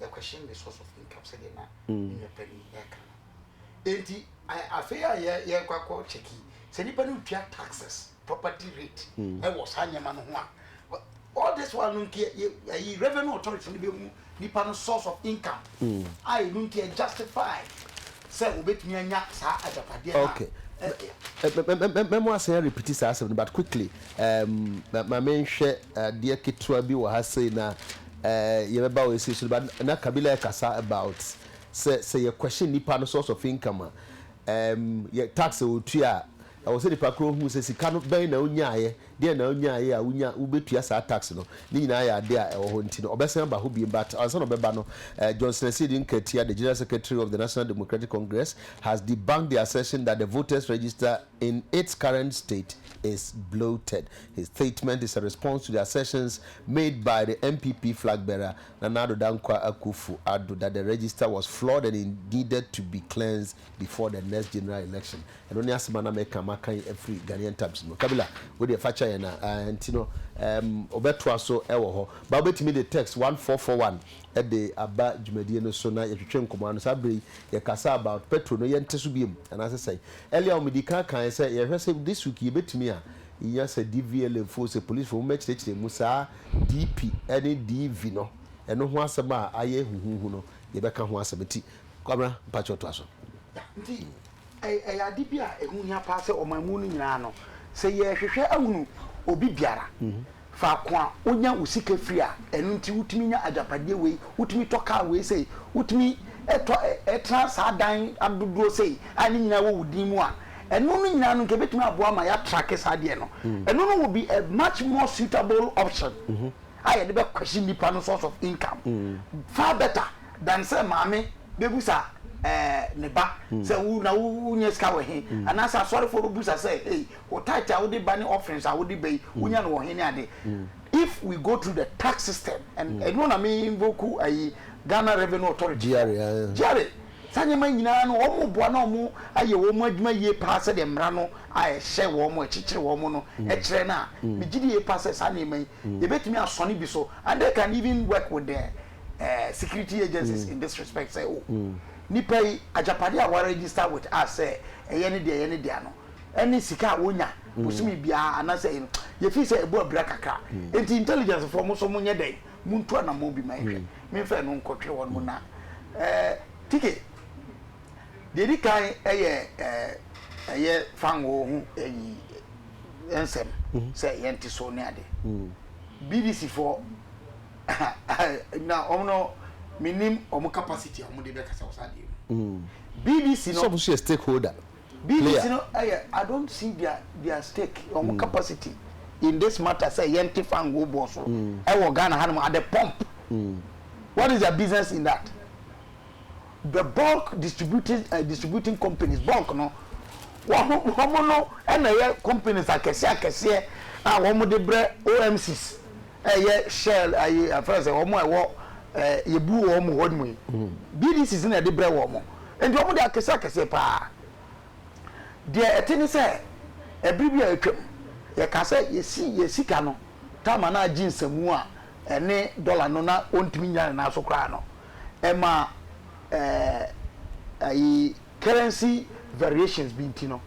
they question the source of income sɛdeɛ na ne nua pɛ ni ɛka no enti afei a yɛ yɛkɔ akɔ kyɛki sɛ nipa no tua taxes property rate ɛwɔ saa nneɛma no ho a all this while no nti ɛyi revenue authority no bɛ hu nipa no source of income a ɛnu nti ɛ justify. sɛ obetumi anya saa agyapadeɛ no a ɛyɛ dea. Okay, mɛmo asan arepiti saa asɛm no but quickly, um, ma menhwɛ adeɛ ketewa bi wɔ ha sei na uh, yɛbɛba wɔ ɛsei so no, but na Kabila ɛkasa about sɛ, sɛ yɛ question nipa no source of income a, um, yɛ tax a ɔtua a, Ɛwɔ sɛ nipa koro hu sɛ sika no, bɛn na ɔnyaaeɛ, deɛn na ɔnyaaeɛ a wonya, wobɛtua saa tax no, ne nyinaa yɛ adeɛ a ɛwɔ hɔ nti no, ɔbɛsan aba hɔ bio. But ansa na ɔbɛba no, eh, Johnson Asiedu Nketiah, the General Secretary of the National Democratic Congress, has debunked the assertion that the voters register in its current state is bloated. His statement is a response to the assertions made by the NPP flag bearer, Nana Addo Dankwa Akuffo Addo, that the register was flawed and it needed to be cleansed before the next general election. Ɛno ne asɛm a na meka maka yi afiri Ghanaian Times mu. Kabila, wo deɛ fa kyɛ yɛn a ɛɛ nti no ɛɛm wobɛtoa so wɔ hɔ. Ba wobɛtumi de text one four four one de aba dwumadie no so na yɛtwetwe nkɔmmɔ ano. Saa berɛ yi yɛkasa about petro no yɛnte so biom anaasɛ sɛn. Earlier on medi kan kaeɛ sɛ yɛhwɛ sɛ this week yɛbɛtumi a yɛnya sɛ DVLA foɔ sɛ police foɔ mommɛkyerɛkyerɛ mu saa DP ne DV no ɛno ho asɛm a ayɛ huhuhu no yɛbɛka ho asɛm nti Kwabena mpakyɛw toa so. Nti Ɛyɛ ade bi a ɛho hia paa sɛ ɔman mu no nyinaa no, sɛ yɛrehwehwɛ ahunu obi biara, faako a onya wo sika firi a, ɛno nti wotumi nya agyapadeɛ wei, wotumi tɔ kaa wei sei, wotumi tɔ ɛ, tena saa dan adodoɔ sei a ne nyinaa wɔ wo din mu a, ɛno no nyinaa no nka ɛbɛtumi aboa ama yɛatrake saa adeɛ no. Ɛno no will be a much more suitable option a yɛde bɛkwɛhye nnipa no source of income far better. Dɛn sɛ maame bebisa ɛɛ ne ba sɛ wo na wunya sika wɔ he? Anaasɛ asɔrefo bebisa sɛ, Ei, wo tithe a wode ba ne offerings a wode ba yi, wunya no wɔ he ne ade? If we go through the tax system and ɛno na me invoke ayi Ghana Revenue Authority fo, GRA, saa nneɛma yi nyinaa no wɔboa na wɔayɛ wɔn adwuma yie paa sɛdeɛ mmara no a ɛhyɛ wɔn, ɛkyekyere wɔn no kyerɛ no a, megye di yie paa sɛ saa nneɛma yi yebetumi asɔne bi so and they can even work with the eh, security agencies mm. in this respect sɛ o oh, mm. nipa yi agyapade a wɔregister with us sɛ ɛyɛ ne deɛ ɛyɛ ne deɛ no ɛne sika a wonya mm. bosome biara anaasɛ ɛyɛ no yɛfii sɛ ɛbɔ abira kakra nti intelligence foɔ mo so mo nyɛ dɛn mo ntu anammɔn bi ma ɛhwɛ memfa ɛno nkɔtwe wɔn mo na eh, tike deɛ di kan ɛyɛ eh, ɛyɛ fango ho ɛyi nsɛm sɛ yɛnte so ne ade bbc foɔ Na wɔn no, me nim wɔn capacity a wɔn de bɛ kasa wɔ saa adeɛ mu. Mm. BBC no. Sɔfo so yɛ stakeholder. BBC player. no ɛyɛ I don't see their their stake wɔn mm. capacity in this matter sɛ yɛn ti fa ngo bɔ so ɛwɔ mm. Ghana hanom at the pump. Mm. What is their business in that? the bulk distributing eh, distributing companies bulk no wɔn no ɛna ɛyɛ companies akɛseɛ akɛseɛ a wɔn de brɛ OMCs ɛyɛ shell ɛyɛ afɛn sɛ wɔn a ɛwɔ ɛɛ yɛbu wɔn hɔ mu yi BDCs na ɛde brɛ wɔn nti wɔn de akɛseɛ akɛseɛ paa deɛ ɛte ne sɛ ɛbiri bi a atwam yɛka sɛ yɛsi yɛ sika no taama na agye nsamu a ɛne dɔla no na ɔntumi nya ne nan so koraa no. ɛma ɛɛ ayi currency variations bi nti no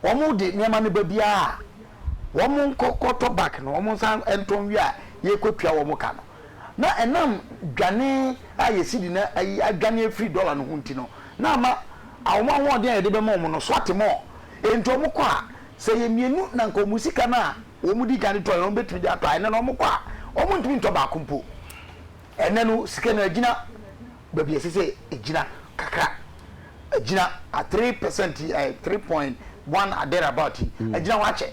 wɔn de nneɛma no ba biara a wɔn nkɔ kɔtɔ back no wɔn nsa ntɔ nwie a yɛkɔtua wɔn ka no na ɛnam dwane a yɛsi di na ayi adwane afiri dollar no ho nti no na ama wɔn ahoɔden a yɛde bɛma wɔn no so ate mɔ enti wɔn kɔ a sɛ yɛ mmienu na nka wɔn sika no a wɔn di kan de tɔ yɛn wɔn bɛtumi de atɔ a ɛnɛ no wɔn kɔ a wɔn ntumi ntɔ baako mpo. Ɛnnɛ no, sika no agyina baabi a ɛsɛ sɛ ɛgyina kakra. Agyina a three percent yi, ɛɛ three point one a there about yi, agyina hɔ akyɛ.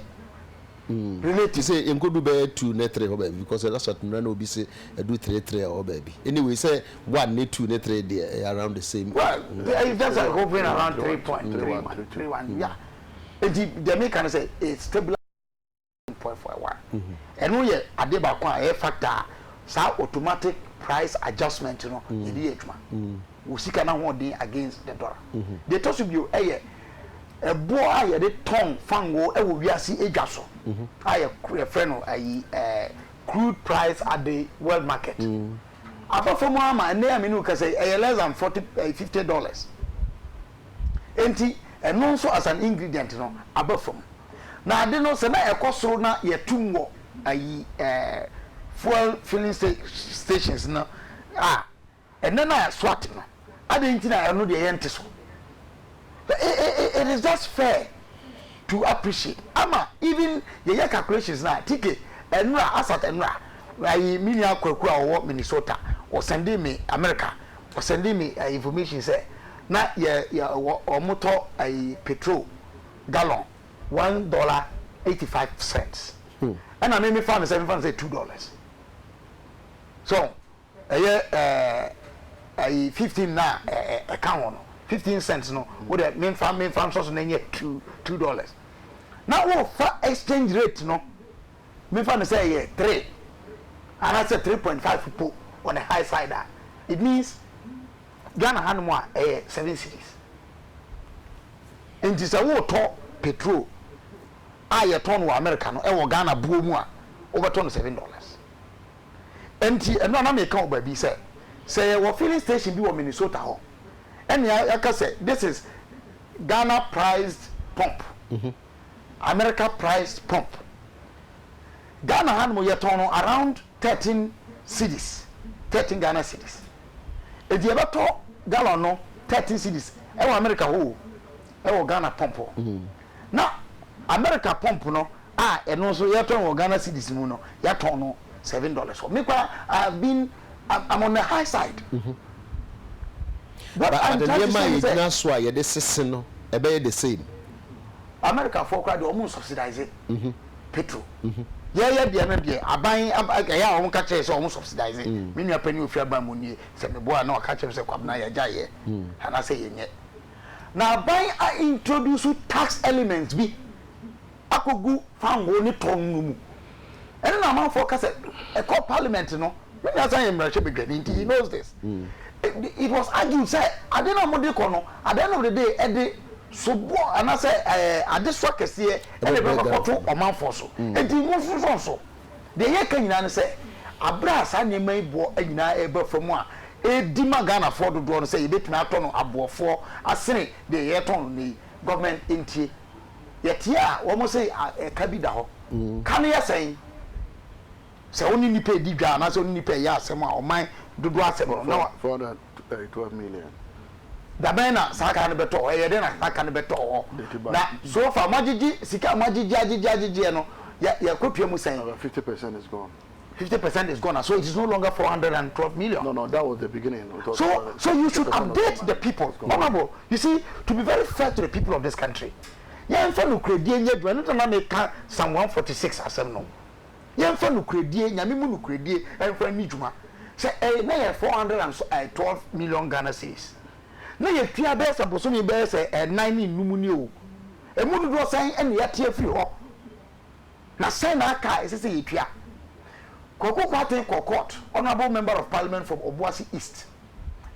Relative. Te sɛ yɛnkɔdu bɛyɛ two ne three hɔ baabi because ɛda so atemmerɛ na obi se ɛdu three three a ɔwɔ baabi. Anyway, sɛ one ne two ne three deɛ ɛyɛ around the same. Well, it's just like hovering around three point three one, three one, yeah. Enti deɛ meka ne sɛ, it's stabilised. mpoafoawa. Ɛno yɛ adeɛ baako a ɛyɛ factor a saa automatic price adjustment no yɛde yɛ adwuma. Wo sika no ahoɔden against the dollar. Deɛ ɛtɔ so bio yɛ ɛboɔ a yɛde tɔn fangoo wɔ wiase adwa so a yɛfrɛ no ayi ɛɛ crude price at the world market. Aba fam ara ma ɛnnɛ a me ne wo kasa yi ɛyɛ less than forty ɛɛ fifty dollars. Enti ɛno nso as an ingredient no aba fam. Na ade no sɛ na ɛkɔ soro na yɛtum wɔ ayi ɛɛ fuel filling stations no a, ɛnɛ na SWAT no, adɛn nti na ɛno deɛ yɛnte so? It is just fair to appreciate ama even yɛyɛ calculations na tike ɛnora asat ɛnora ayi me nua kwaku a ɔwɔ Minnesota ɔsɛnde me America ɔsɛnde me information sɛ na yɛ yɛ wɔn tɔ ayi petrol gallon one dollar eighty five cents ɛna me me fa no sɛ me fa no sɛ two dollars so ɛyɛ ɛɛ ɛyi fifteen na ɛɛ ɛka ho no fifteen cents no wo dɛ me fa me fa nsɔ so na ɛnyɛ two two dollars na wo fa exchange rate no me fa no sɛ ɛyɛ three anaasɛ three point five po on the high side a it means. Ghana ha nom a ɛyɛ seven cedis. Nti sɛ woretɔ petrol a yɛtɔn no wɔ America no wɔ Ghana buo mu a, wobɛtɔ no seven dollars. Nti ɛno a na meka wɔ baabi sɛ, sɛ yɛwɔ filling station bi wɔ Minnesota hɔ, ɛnea yɛaka sɛ this is Ghana priced pump, America priced pump. Ghana ha nom yɛtɔn no around. Thirteen cedis, thirteen Ghana cedis. Enti yɛbɛtɔ gallon no thirteen cedis ɛwɔ America hɔ o, ɛwɔ Ghana pump hɔ. Na America pump no a ɛno nso yɛtɔ no wɔ Ghana cedis mu no, yɛatɔn no seven dollars hɔ. Me koraa I have been, I'm on the high side. What I'm trying to say is that. But nneɛma a yɛgyina so a yɛde sese no, ɛbɛyɛ the same. Americafoɔ koraa deɛ wɔn nsubsidise. petrol yɛyɛ deɛ no deɛ aban ɛyɛ a wɔn ka kyerɛ sɛ wɔn subsidize mm. me nua panyin ofi aban mu nie sɛ me boa na wɔka kyerɛ sɛ kwabena yɛ gya yɛ mm. anaasɛ yɛ nyɛ na aban a introduce tax elements bi akɔgu fango ne tɔn no mu ɛne na amanfoɔ ka sɛ ɛkɔ parliament no me nua san yɛ mmarahyɛ badwani nti he mm. knows this mm. it, it was argued sɛ ade na wɔde kɔ no at the end of the day ɛde soboɔ anaasɛ ɛɛ eh, adesoa kɛseɛ ɛde bɛkɔto ɔmanfoɔ so. Enti monsonsɔnsɔ. Deɛ yɛreka nyinaa ne sɛ, berɛ a saa nneɛma yi boɔ nyinaa reba fam a, ɛredi ma Ghanafoɔ dodoɔ no sɛ yɛbɛtumi atɔ no aboɔfoɔ asene deɛ yɛretɔn no nnɛ yi. Government ntie. Yɛteɛ a, wɔse ɛka bi da hɔ. Ka no yɛ sɛn? Sɛ wo ne nnipa redi dwa anaasɛ wo ne nnipa reyɛ asɛm a, ɔman dodoɔ asɛm no, na wa. 432 million. Dabɛn na saa car no bɛtɔ hɔ? Ɛyɛdɛn na saa car no bɛtɔ hɔ? Na so far moagyegye sika a moagyegye agyegye agyegyeɛ no, yɛ yɛkɔtua mu sɛn? About 50 percent is gone. 50 percent is gone, so it is no longer 412 million. No, no, that was the beginning. It was So, so you should update the people, honourable. You see, to be very fair to the people of this country, yɛnfa nokorɛdie nyɛ adwuma, ɛno nti na meka Psalm 146 asɛm no. Yɛmfa nokorɛdie, Nyame mu nokorɛdie mfa nni dwuma. Sɛ ɛyɛ na yɛ four hundred and twelve million Ghana cedis, na yɛtua bɛyɛ sɛ bosome bɛyɛ sɛ ɛnan ne nnum ni o, ɛmu dodoɔ sɛn na yɛate afiri hɔ? Na sɛn na aka a ɛsɛ sɛ yɛtua? Kwaku Kwarteng kɔɔ court, Honourable Member of Parliament from Obuasi East,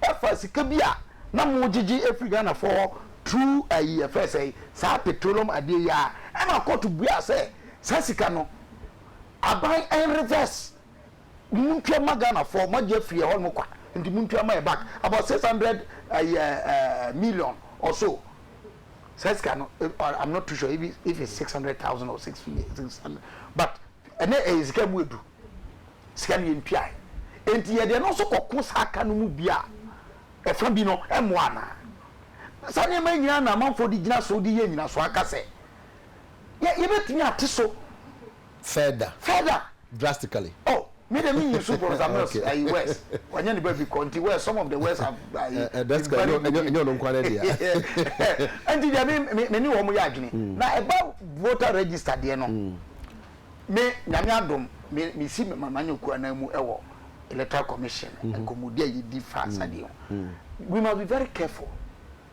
ɛfa sika bi a na mogyegye afiri Ghanafoɔ hɔ through ayi yɛfrɛ sɛn, saa petroleum adeɛ yi ara, ɛma court buaa sɛ, Saa sika no aban reverse montua ma Ghana foɔ mo agye afiri ɛhɔ nom kwa nti montua ma yɛ back about six hundred ɛyɛ eh, uh, eh, eh, million or so saa sika no I'm not too sure if, if it's six hundred thousand or six six hundred but ɛnɛ ɛyɛ sika mu edu sika no yɛ ntua nti yɛ deɛ no nso kɔko saa ka no mu bi a ɛfa bi no ɛmoa anaa saa nneɛma nyinaa na amanfoɔ de gyina so de yɛ nyina so aka sɛ yɛ yɛ bɛ tumi ate so. Further. Further. Drastically. Oh me de me nyi so bɔ zamils okay. ayi words wanya ne baabi kɔ nti words some of the words have ayi. Uh, uh, drastically enyo enyo no nkwa ne dia. Nti dia me me me ne wɔn yɛ adwene mm. na ɛba voter register deɛ no mm. me nyame adom me me si me mama nyɛ kura na mu ɛwɔ electoral commission mm-hmm. nkɔmɔdi a yɛ di fa asadeɛ ho we must be very careful.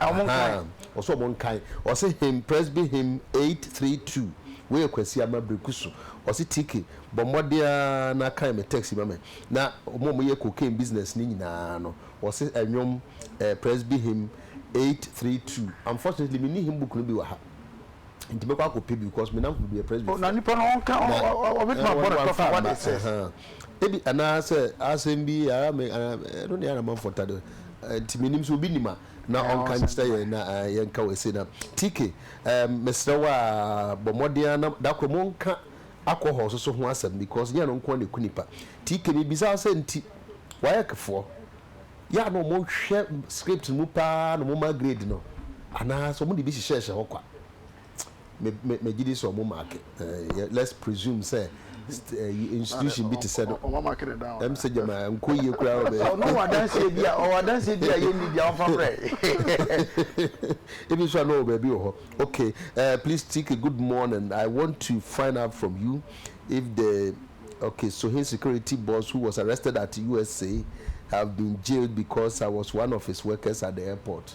ɔsɛ ɔmo nkan ɔsɛ him presby him eight three two wei yɛ kwasi ama breku so ɔsɛ tiki bɔ mmɔden aa na kan me text ma me na ɔmo ɔmo yɛ cocaine business ne nyinaa no ɔsɛ ɛnwom ɛɛ presby him eight three two unfortunately me ni him book no bi wɔ ha nti mɛkɔ akɔ pɛ bi because me nanko bi yɛ presby fo na nipa no ɔnka ɔbɛtuma bɔ ne tɔfa what it says. Ebi anaa sɛ asɛm bi yɛ ara me anaa ɛno ne ara manfo ta de nti menim sɛ obi nim a na ɔnka nkyerɛ yɛn na yɛnka wɔ ese na TK mesrɛ wo a bɔ mmɔden ara na da koro monka alcohol so so ho asɛm because nyɛ ɛno nko na eku nipa TK mebisa wo sɛ nti WAEC foɔ yɛ a na wɔn hwɛ script no mu paa na wɔn ma grade no anaa sɛ wɔn de bi hyehyɛɛhyɛ hɔ kwa. me me me gye di sɛ ɔmo mark ɛɛ let's presume sɛ ɛyi eh, institution bi te sɛ no ɔmo mark ne down ɛm sɛ gyama nkɔ yie koraa ɔbɛ ɔno wɔ adanseɛ bi a ɔwɔ adanseɛ bi a yɛ ni bi a ɔnfa brɛ ebi nso a na ɔwɔ baabi wɔ hɔ okay uh, please tike good morning i want to find out from you if the okay so his security boss who was arrested at usa have been jailed because i was one of his workers at the airport.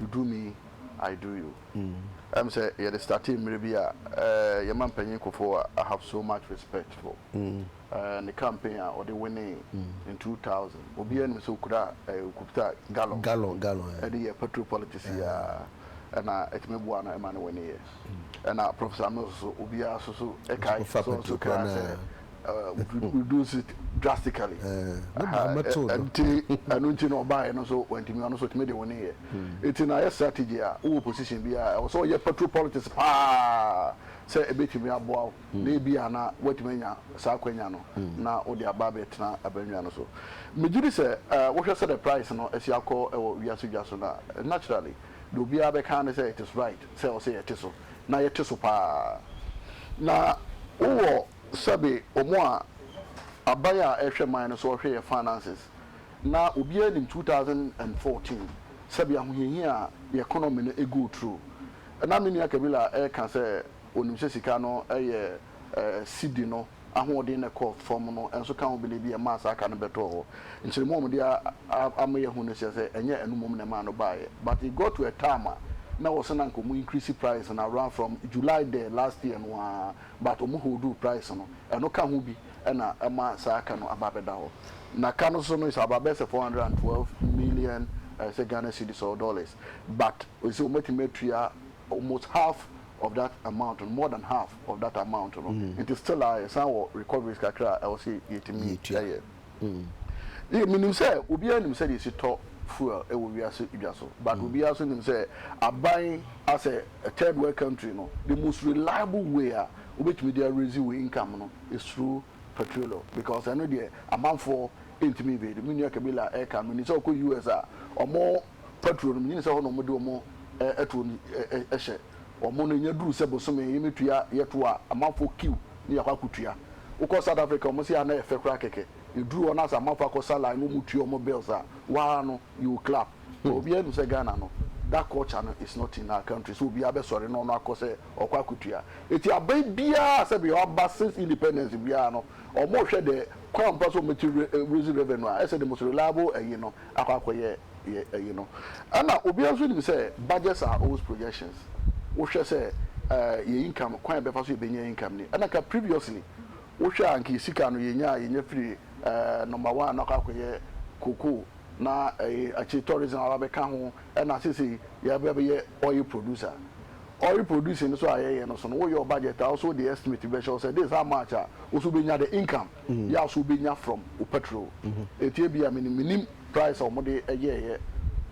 you do me I do you ɛyɛ me sɛ yɛde startee mmerɛ bi a yɛn mampanyin Kufuor a I have so much respect for ne campaign a ɔde winee in two thousand obiara nim sɛ ɔkura ɔkuta gallon ɛde yɛ petrol politics yi ara ɛna ɛtumi boa no ma no winneeɛ. Ɛna Prof Samuel nso so, obiara nso so kae, Ɔfa so nso patrokura kae no sɛ, a. uh, would re- reduce it drastically. Eh, ne Aha, baa ɛ- mɛtoo no. Ɛnti, ɛno nti na ɔbaeɛ no nso wantumi, ɔno nso ɔtumi de wo neyɛ. Ɛti na ayɛ strategy a, wowɔ position bi a, ɛwɔ sɛ ɔyɛ patrol politics paa sɛ ɛbɛtumi aboa wo, na ebi a na woatumi anya saa akwanya no, na wode aba abɛtena abannwa no so. Megye di sɛ, eh, wohwɛ sɛdeɛ price no asi akɔ wɔ wiase dwa so no a, naturally, Deɛ obiara bɛka ara ne sɛ it is right sɛ ɔsɛ yɛte so na yɛte so pa ara. Na wowɔ sɛbe wɔn a aban a ɛhwɛ man no so ɔhwɛ yɛn finances na obiara nim two thousand and fourteen sɛbe ahohiahia a yɛn economy no go through. Na me nua Kabila ɛka sɛ ɔnim sɛ sika no yɛ sidi no. ahoɔden no kɔ fam no nso ka ho biribi a ɛmaa saa ka no bɛtɔɔ hɔ. Nkyeremu a wɔde ama yɛahu no kyerɛ sɛ ɛnyɛ ɛno mmom na ɛmaa no baeɛ. But it got to a time a na wɔse na anka wɔn increase price no around from July the last year no ara but wɔn holduu price no. Ɛno ka ho bi na ɛma saa ka no aba abɛda hɔ. Na ka no so no is about bɛyɛ sɛ four hundred and twelve million ɛyɛ sɛ Ghana cedis or dollars but wɔse wɔatumi atua almost half of that amount no, more than half. of that amount no nti still a yɛsan wɔ recoveries kakra a ɛwɔ sɛ yɛtumi yɛ. Yɛ menim sɛ obiara nim sɛdeɛ yɛsi tɔ fuel wɔ wiase dwa so but obiara nso nim sɛ aban as a third world country no the most reliable way a wobɛtumi de araise wo income no is through petroleum because ɛno deɛ amanfoɔ ntumi evade. Me nua Kabila ɛka no menim sɛ ɔkɔ US a wɔn fa tuo no mu nyini sɛ hɔ na wɔde wɔn tuo no hyɛ wɔn no nya duru sɛ bosome yi me tua yɛ to a amanfoɔ kiw ne yɛakɔ akɔ tua wokɔ south Africa wɔn se a na yɛ fɛ koraa kɛkɛ yɛ duru hɔ na sɛ amanfoɔ akɔ sa line na wɔn tua wɔn bills a waa no you will clap but obiara nim sɛ Ghana no that culture no is not in our country sɛ obiara bɛ sɔre na ɔno akɔ sɛ ɔkɔ akɔ tua eti aban biara sɛ bia ɔba since independence biara no wɔn hwɛ dɛ kwan pa so wɔn bɛ ti raise revenue a ɛsɛ the most reliable ɛyi no akɔ akɔyɛ yɛ ɛyi no ɛna obiara nso nim sɛ budgets are always projections wohwɛ sɛ ɛɛ yɛ income kwan yɛbɛfa so yɛbɛnya income ni ɛna nka previously wohwɛ a nka yɛ sika no yɛnya a yɛnya firi ɛɛ number one no akɔ akɔyɛ cocoa na ɛɛ akyire tourism aba bɛka ho ɛna sesei yɛaba bɛyɛ oil producer oil producing no so a yɛyɛ no so no woyɛ wo budget a wo so wode estimate bi bɛhyɛ wo sɛ this how much a wo so wobɛnya the income. yɛ a so wobɛnya from wo petrol enti ebia menim menim price a wɔde yɛɛyɛ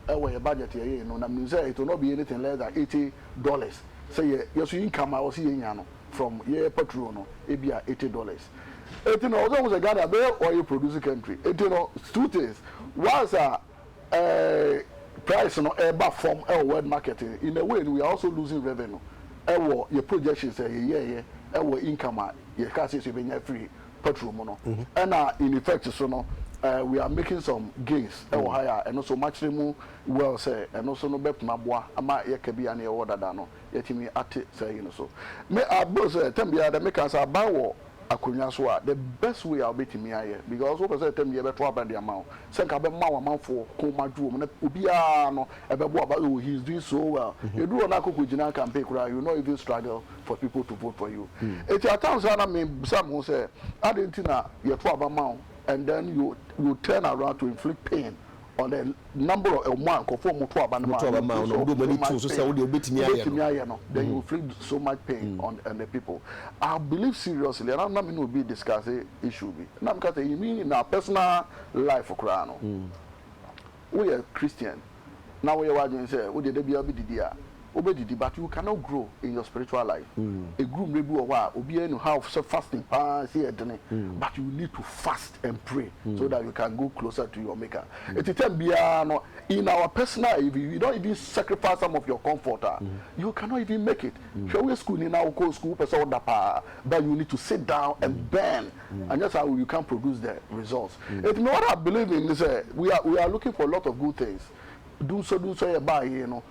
ɛwɔ yɛ budget a yɛyɛɛ no na menim sɛ it will not be anything less than eighty dollars sɛ yɛ yɛ so income a wɔse yɛnya no from yɛ petrol no ebia eighty dollars enti no ɛwɔ sɛ wohu sɛ Ghana ɛbɛyɛ oil produce country enti no two things once a ɛɛ price no ɛɛba fɔm ɛwɔ world market no in a way no we are also losing revenue ɛwɔ yɛ projections a yɛyɛɛyɛ ɛwɔ income a yɛkaa sɛ yɛbɛnya afiri petrol mu no ɛna in effect so no ɛɛ we are making some gains ɛwɔ ha a ɛno nso makyerɛ mu well sɛ ɛno nso no bɛtumi aboa ama yɛ kabea no yɛwɔ dada no yɛatumi ate saa yi no so me I believe sɛ tam biara dɛ meka sɛ aban wɔ akonwa so a, the best way a wobɛtumi ayɛ, because wopɛ sɛ tam yɛ bɛto aba de ama wo, sɛ nka bɛma w'amanfoɔ kɔn mu adwo wɔn na obiara no ɛbɛboa ba oh he is doing so well, ɛduru hɔ no a kɔkɔ gyina campaign koraa you will not even struggle for people to vote for you. Ɛti at times a na me bisa me ho sɛ adɛn nti na yɛto aba ma wo and then you you turn around to inflict pain On the number of wɔn a nkurɔfoɔ a wɔto aba no ma no feel so much pain wobɛtumi ayɛ no then you will feel so much pain on on the people I believe seriously ɛna na me ne obi discuss issue bi na meka sɛ in me in our personal life koraa no woyɛ Christian na woyɛ w'adwene sɛ wodeɛ da biara wobɛdidi a wobɛdidi but you cannot grow in your spiritual life ɛduru mmerɛ bi wɔ hɔ a obiara nim how sɛ fasting paa sɛ yɛ dene but you need to fast and pray so that you can go closer to your maker ɛti time biara no in our personal if you don't even sacrifice some of your comfort a you cannot even make it hwɛ woyɛ school ni na wokɔ school wopɛ sɛ woda paa but you need to sit down and burn anyɛ saa you can't produce the results ɛti me what I believe in ne sɛ we are we are looking for a lot of good things dunsɔ dunsɔ yɛ baa yei no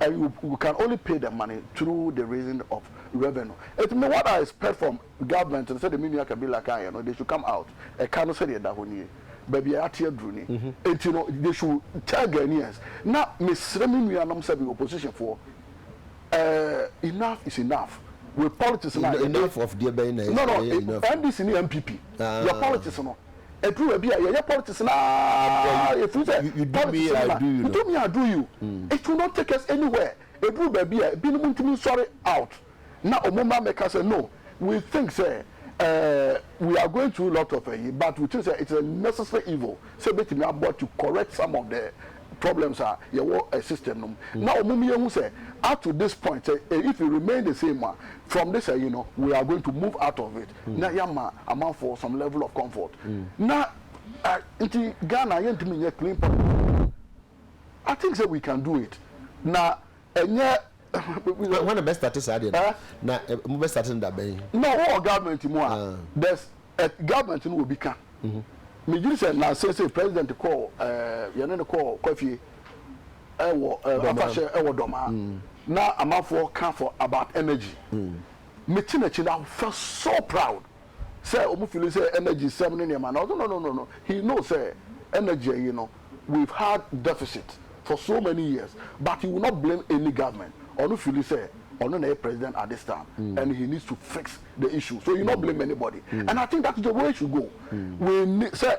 and you you can only pay the money through the raising of revenue it me what I expect from government no sɛdeɛ me nua Kabila kaeɛ no they should come out ɛka no sɛdeɛ ɛda hɔ nie baabi a yɛate aduru ni enti no they should tell Ghanaians na mesrɛ me nuanom sɛ bi opposition foɔ eh, enough is enough with politics no a yɛde Enough of deɛ bɛn na no no ɛyɛ enough. NDC ne NPP your Ah. politics no Ɛduru baabi a yɛyɛ politics no ara ɛfiri sɛ politics no na you do me I do you. It will not take us anywhere. Ɛduru baabi a binom ntumi nsɔre out na wɔn mmra mmɛka sɛ no we think sɛ eh, we are going through lot of ayi but we think sɛ it is a necessary evil sɛ ɛbɛtumi aboa to correct some of the problems a yɛwɔ eh, system no mu mm. na wɔn mu yɛhu sɛ up to this point sɛ eh, if it remain the same a from this ayi no we are going to move out of it. na yɛama amanfoɔ some level of comfort na nti Ghana yɛntumi nyɛ clean public I think sɛ we can do it na ɛnyɛ. wɔn na bɛ start saa deɛ no na mo bɛ start no da bɛn. na wɔwɔ government mu a there's a government no wɔ bi ka megyiri sɛ na sese president kɔɔ ɛɛ yɛne no kɔɔ kwafie ɛwɔ afahyɛ ɛwɔ dɔmaa na amanfoɔ ka for about energy me te n'akyi no I felt so proud sɛ ɔmo feeli sɛ energy sɛm ne nneɛma no ɔse no no no no he know sɛ energy ayi no we've had deficit for so many years but he will not blame any government ɔno feeli sɛ ɔno na ɛyɛ president at this time and he needs to fix the issue so he not blame anybody and I think that's the way should go we need sɛ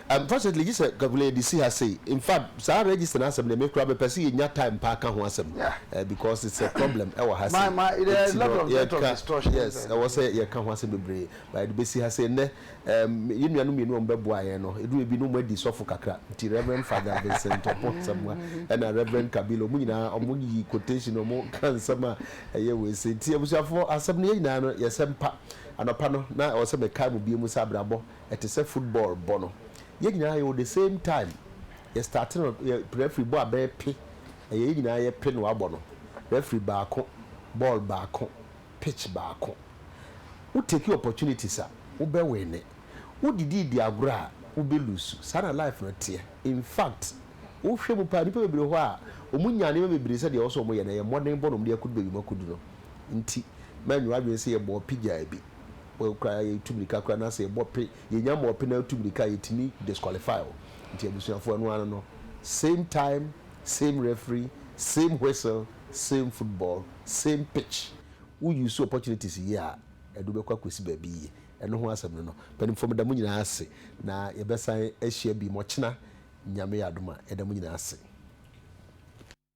Unfortunately gye sɛ Kakule yɛde si ha sei. Infact saa register no asɛm deɛ me koraa mepɛ sɛ yɛnya time paa ka ho asɛm because it's a problem ɛwɔ ha sei nti no yɛka yes ɛwɔ sɛ yɛka ho asɛm bebree but yɛde bɛsi ha sei. Nnɛ yɛn nuanom mmienu a wɔbɛboaa yɛn no ɛduru baabi na wɔadi sɔfo kakra nti Rev. Father Vincent Opoh Asamoah ɛna Rev. Kabila wɔn nyinaa wɔyi quotation wɔka nsɛm a ɛyɛ wei sei nti abusuafoɔ asɛm no yɛn nyinaa no yɛsɛ mpa anɔpa no na ɛwɔ sɛ mekae mo bio mu sɛ abrabɔ ɛte sɛ football bɔ no yɛn nyinaa yɛwɔ the same time yɛ start no yɛ referee bɔ a bɛyɛ pe ɛyɛ yɛn nyinaa yɛ pe no abɔ no referee baako ball baako pitch baako wo take opportunities a wo bɛ winne wo didi di agorɔ a wo bɛ lose saa na life no teɛ in fact wo hwɛ mu paa nipa bebree hɔ a wɔn nya nneɛma bebree sɛ deɛ ɔsɔ wɔn yɛ na yɛ mmɔden bɔ na wɔn de akɔdu baabi wɔn akɔdu no nti mɛnwere adwene sɛ yɛ bɔɔ pigyaa bi. wo koraa yɛtu mirika koraa na sɛ yɛbɔ pe yɛnya ma ɔpe na atu mirika yɛtumi disqualify wo nti abusuafoɔ ɛno ano no same time same referee same whistle same football same pitch wo use opportunities yie a ɛde wobɛkɔ akɔsi baabi yie ɛno ho asɛm no no mpanimfoɔ meda mo nyinaa ase na yɛbɛsan ahyia bi mɔkyena Nyame yɛ adom a yɛda mo nyinaa ase.